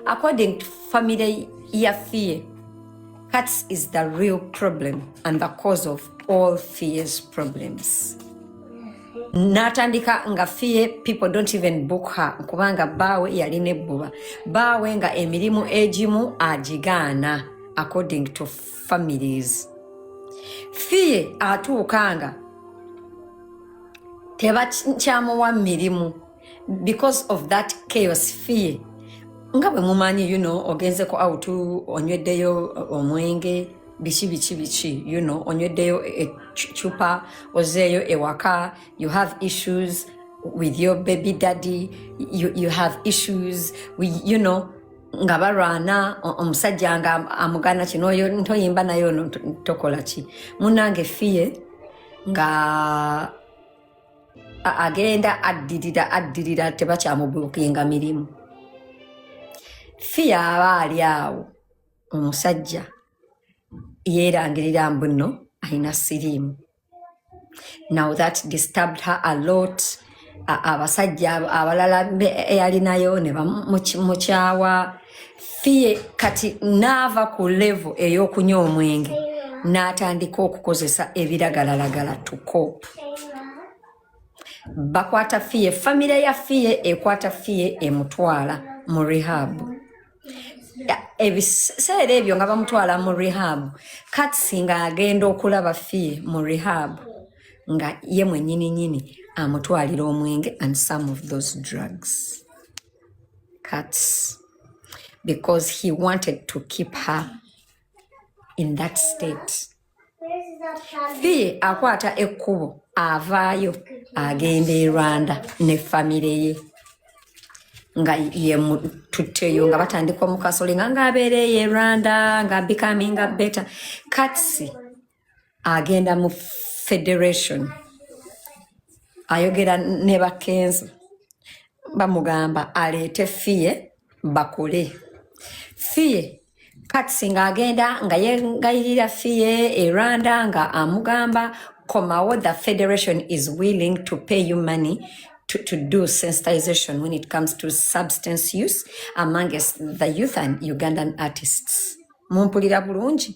According to family ya fear, cats is the real problem and the cause of all fears problems. Natandika nga fear people don't even book her kubanga bawe yali ne buba bawe nga emirimu egimu agigaana according to families fear atuukanga tebakyamuwa mirimu because of that chaos fear nga bwe mumanyi you know ogenzeko out onyweddeyo omwenge biki biki biki you know onyweddeyo ecupa ozeeyo ewaka you have issues with your baby daddy you, you have issues with, you know nga balwana omusajja nga amugana kino oyo ntoyimba naye ono tokola ki munange fear nga A- agenda addirira addirira tebakyamubuukinga mirimu fiya aba ali awo omusajja yeerangirira mbu nno alina siriimu now that disturbed her a lot A- abasajja ab- abalala be- eyalinayo ne bamukyawa fiye kati naava ku levo ey'okunywa omwenge n'atandika okukozesa ebiragalalagala tukopu bakwata fiye famire ya fiye ekwata fiye emutwala mu rehabu ebiseera ebyo nga bamutwala mu rehabu katsi nga agenda okulaba fiye mu rehabu nga ye mwenyini nyini amutwalira omwenge and some of those drugs cuts because he wanted to keep her in that state fee akwata ekkubo avaayo agenda e rwanda ne famire ye nga yemututteyo nga batandika omukasolinga ngaabeereeyo e rwanda nga becoming a better katsi agenda mu federation ayogera ne bakenzo bamugamba aleete fiye bakole fiye kati singa agenda nga yengayirira fiye erwanda nga amugamba komawo the federation is willing to pay you money to, to do sensitization when it comes to substance use amongst the youth and Ugandan artists. Mumpulira bulungi.